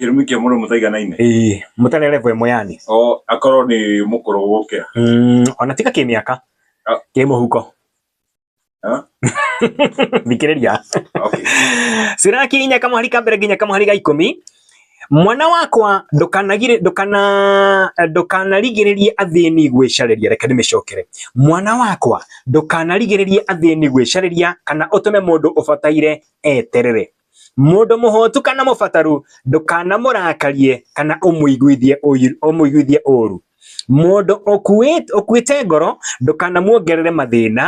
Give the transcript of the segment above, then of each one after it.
Kĩrumi kĩa mũndũ mũta iganaine. Ĩĩ, mũta rĩa level ĩmwe yani. Oo, akorwo nĩ mũkũrũ gũgũkĩra. Mm, ona tiga kĩmĩaka. Ah. Kĩ mũhuko. Ah. Thikĩrĩria. Okay. Siraki inya kamũhari ka mbere nginya kamũhari ga ikũmi. Mwana wakwa ndukanagire ndukana ndukanarigiririe athini gwicariria reke ndimicokere mwana wakwa ndukanarigiririe athini gwicariria kana utume mundu ubataire eterere Mũndũ mũhũtu kana mũbataru ndũkanamũrakarie kana ũmũiguithie ũiru- ũmũiguithie ũũru. Mũndũ ũkuĩt- ũkuĩte ngoro ndũkanamuongerere mathĩna,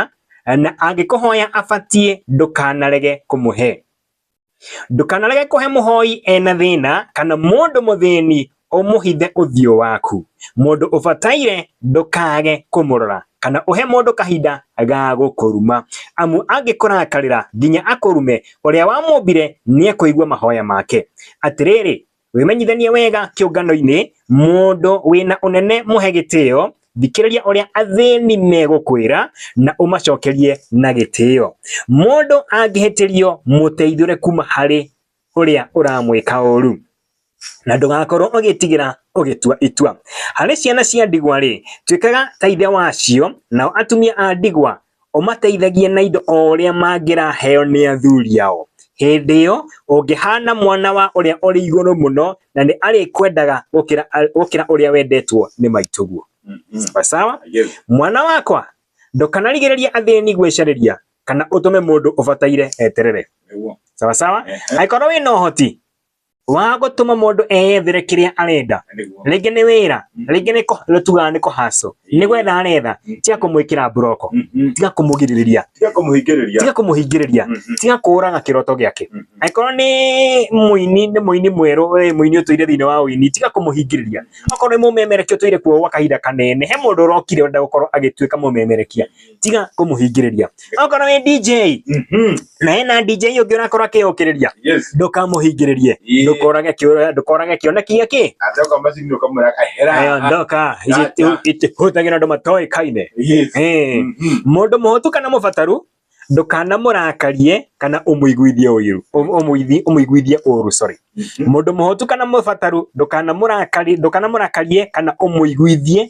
na angĩkũhoya abatiĩ ndũkanarege kũmũhe. Ndũkanarege kũhe mũhoi ena thĩna, kana mũndũ mũthĩni Ũmũhithe ũthiũ waku. Mũndũ ũbataire ndũkaage kũmũrora, kana ũhe mũndũ kahinda ga gũkũruma. Amu angĩkũrakarĩra nginya akũrume, ũrĩa wamũmbire nĩekũigua mahoya make. Atĩrĩrĩ, wĩmenyithanie wega kĩũngano-inĩ, mũndũ wĩ na ũnene mũhe gĩtĩo, thikĩrĩria ũrĩa athĩni megũkwĩra, na ũmacokerie na gĩtĩo. Mũndũ angĩhĩtĩrio, mũteithũre kuuma harĩ ũrĩa ũramwĩka ũũru na ndũgakorwo ũgĩtigĩra ũgĩtua itua. Harĩ ciana cia ndigwa-rĩ, tuĩkaga ta ithe wacio, nao atumia a ndigwa ũmateithagie na indo o ũrĩa mangĩraheo nĩ athuri ao. Hĩndĩ ĩyo ũngĩhana mwana wa ũrĩa ũrĩ igũrũ mũno, na nĩ arĩkwendaga gũkĩra gũkĩra ũrĩa wendetwo nĩ maitũguo. Sawa sawa? Mwana wakwa, ndũkanarigĩrĩrie athĩni gwĩcarĩria, kana ũtũme mũndũ ũbataire eterere sawa sawa angĩkorwo wĩna ũhoti wa gũtũma mũndũ eyethere kĩrĩa arenda rĩngĩ nĩ wĩra mm. rĩngĩ nĩ tugaga nĩ kũhacũ nĩ gwetha aretha mm. tiga kũmwĩkĩra mburoko mm-hmm. tiga kũmũgirĩrĩria tiga kũmũhingĩrĩria mm-hmm. tiga kũũraga kĩroto gĩake mm-hmm. angĩkorwo nĩ mũini nĩ mũini mwerũ mũini ũtũire thĩinĩ wa ũini tiga kũmũhingĩrĩria okorwo nĩ mũmemerekia ũtũire kuo gwa kahinda kanene he mũndũ ũrokire ũrenda gũkorwo agĩtuĩka mũmemerekia tiga kũmũhingĩrĩria okorwo wĩ DJ Mhm. na hena DJ ũngĩ ũrakorwo akĩyũkĩrĩria Yes. ndũkamũhingĩrĩrie Ĩĩ. ndũkorage kĩo- ndũkorage kĩoneki gĩkĩ Ate kwa macini ukamwira kahera. Aya ndoka Gotcha. itihũthagĩra andũ matoĩkaine Yes. Eh, Mhm. mũndũ mũhũtu kana mũbataru ndũkanamũrakarie kana ũmũiguithie ũiru ũm- ũmũithi- ũmũiguithie ũru sorry mũndũ mũhũtu kana mũbataru ndũkanamũrakari ndũkanamũrakarie kana ũmũiguithie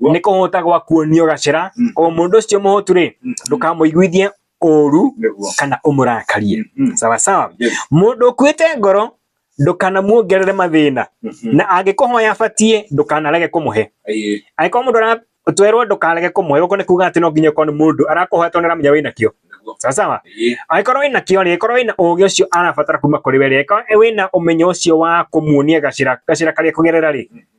nä kå hå ta gwa kuonio gacera mm. o må ndå å cio må hå tu rä mm. ndå kamå iguithie å ru kana å må rakarie mm. sawasawa må ndå å kuä te ngoro ndukanamuongerere mathina mm-hmm. na angikuhoya batie ndukanarege kumuhe angĩkorwo mũndũ aratwerwo ndukarege kumuhe guko ni kuga ati no nginya ukorwo ni mundu arakuhoya tondu aramenya wina kio sawa sawa angĩkorwo wina kio ri angĩkorwo wina ugi ucio arabatara kuma kuri we ri angĩkorwo wina umenyo ucio wa kumuonia gacira gacira karia kugerera ri mm-hmm.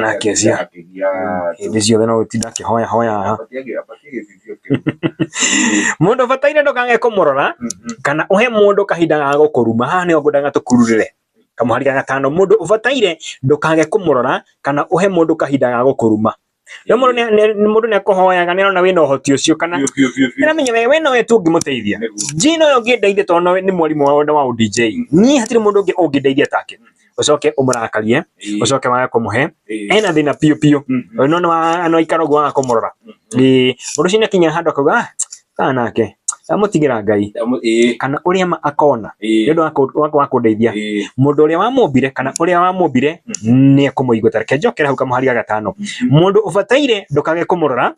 nake cia hĩndĩ ciothe no gũtinda akĩhoya hoyaga mũndũ ũbataire ndũkage kũmũrora kana ũhe mũndũ kahinda ga gũkũruma haha nĩho ngwendaga tũkururĩre kamũhari ga gatano mũndũ ũbataire ndũkage kũmũrora kana ũhe mũndũ kahinda ga gũkũruma rĩu mũndũ nĩ- nĩ- mũndũ nĩ akũhoyaga nĩ arona wĩna ũhoti ũcio kana nĩramenya we we nowe tu ũngĩmũteithia njina ũyũ ũngĩndeithia tondũ nowe nĩ mwarimũ wa wa ũdj niĩ hatirĩ mũndũ ũngĩ ũngĩndeithia take ucoke umurakarie Ĩĩ. ucoke wage kumuhe Ĩĩ. ena thina piu piu Mhm. no no no ikara guo waga kumurora Mhm. ii mundu cina kinya handu akauga "Ah, kana nake amutigira ngai Ndamu- Ĩĩ. kana uria ma akona Ĩĩ. ni undu wa kundeithia Ĩĩ. mundu uria wamumbire kana uria wamumbire ni ekumuigua tareke njokere hau kamuhari ga gatano mundu ubataire ndukage kumurora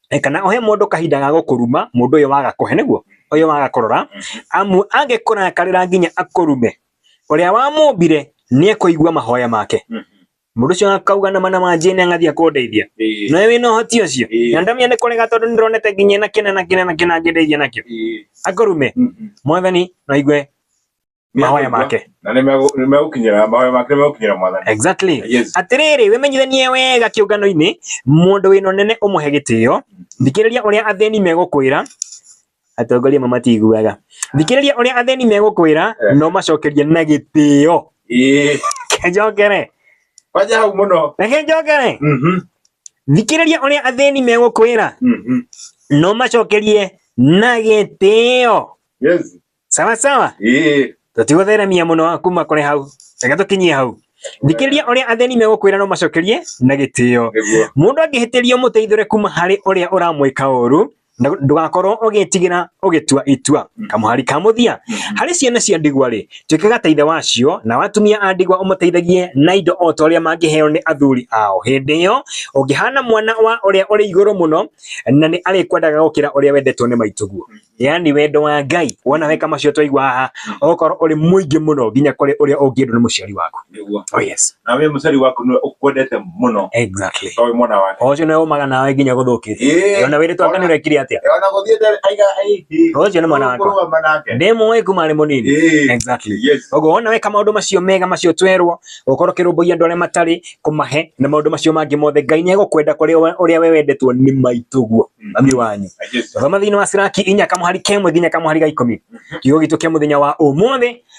eh, kana uhe mundu kahinda ga gukuruma mundu uyu waga kuhe niguo uyu waga kurora amu angikurakarira nginya akurume Ũrĩa wamũmbire nĩ ekũigua mahoya make. Mũndũ ũcio akauga na mana ma njĩne angathiĩ akũndeithia. Ĩĩ. Nowe wĩna ũhoti ũcio. Ĩĩ. Na ndamenya nĩ kũrega tondũ nĩ ndĩronete nginya ena kĩna na kĩna na kĩna angĩndeithia nakĩo. Ĩĩ. Akũrume, Mhm. mwathani no aigue mahoya make. Na nĩ megũ- nĩ megũkinyĩra mahoya make nĩ megũkinyĩra mwathani. Exactly. Yes. Atĩrĩrĩ, wĩmenyithanie wega kĩũngano-inĩ, mũndũ wĩna ũnene ũmũhe gĩtĩo, thikĩrĩria ũrĩa athĩni megũkwĩra, atongoria amwe matiiguaga thikĩrĩria ũrĩa athĩni megũkwĩra Eh. no macokerie na gĩtĩo Ĩĩ. njokere Wanja hau mũno. reke njokere Mhm. thikĩrĩria ũrĩa athĩni megũkwĩra Mhm. no macokerie na gĩtĩo Yes. sawa sawa Ĩĩ. tũtigũtheremia mũno kuma kũrĩ hau reke tũkinyie hau thikĩrĩria ũrĩa athĩni megũkwĩra no macokerie na gĩtĩo Nĩguo. mũndũ angĩhĩtĩrio mũteithũre kuma harĩ ũrĩa ũramwĩka ũru na ndũgakorwo ũgĩtigĩra ũgĩtua itua Mm. kamũhari ka mũthia Mhm. harĩ ciana cia ndigwa rĩ tuĩkaga ta ithe wacio na watumia a ndigwa ũmateithagie na indo o ta ũrĩa mangĩheo nĩ athuri ao hĩndĩ ĩyo ũngĩhana mwana wa ũrĩa ũrĩ igũrũ mũno na nĩ arĩkwendaga gũkĩra ũrĩa wendetwo nĩ maitũguo yaani wendo wa ngai wona weka macio twaigua haha ũgũkorwo ũrĩ mũingĩ mũno nginya kũrĩ ũrĩa ũngĩendwo nĩ mũciari waku nĩguo oh yes na we mũcari waku nĩ ũkwendete mũno exactly to wĩ mwana wake ũcio nĩ ũmaga nawe nginya gũthũkĩte Ĩĩ. ona wĩrĩtwo anga nĩ ũrekire atĩa Eh, ona gũthiĩte aiga aihi Ũcio nĩ mwana wakwa. kũrũgama nake ndĩ mũĩ kuma arĩ mũnini Ĩĩ. exactly yes ũguo wona weka maũndũ macio mega macio twerwo gũkorwo kĩrũmbũiya andũ arĩa matarĩ kũmahe na maũndũ macio mangĩ mothe ngai nĩ egũkwenda kũrĩ we- ũrĩa we wendetwo nĩ maitũguo mami wanyu thoma thiini wa Siraki inya kamuhari kemwe nginya kamuhari ga ikumi kiugo gitu kia muthenya wa umuthi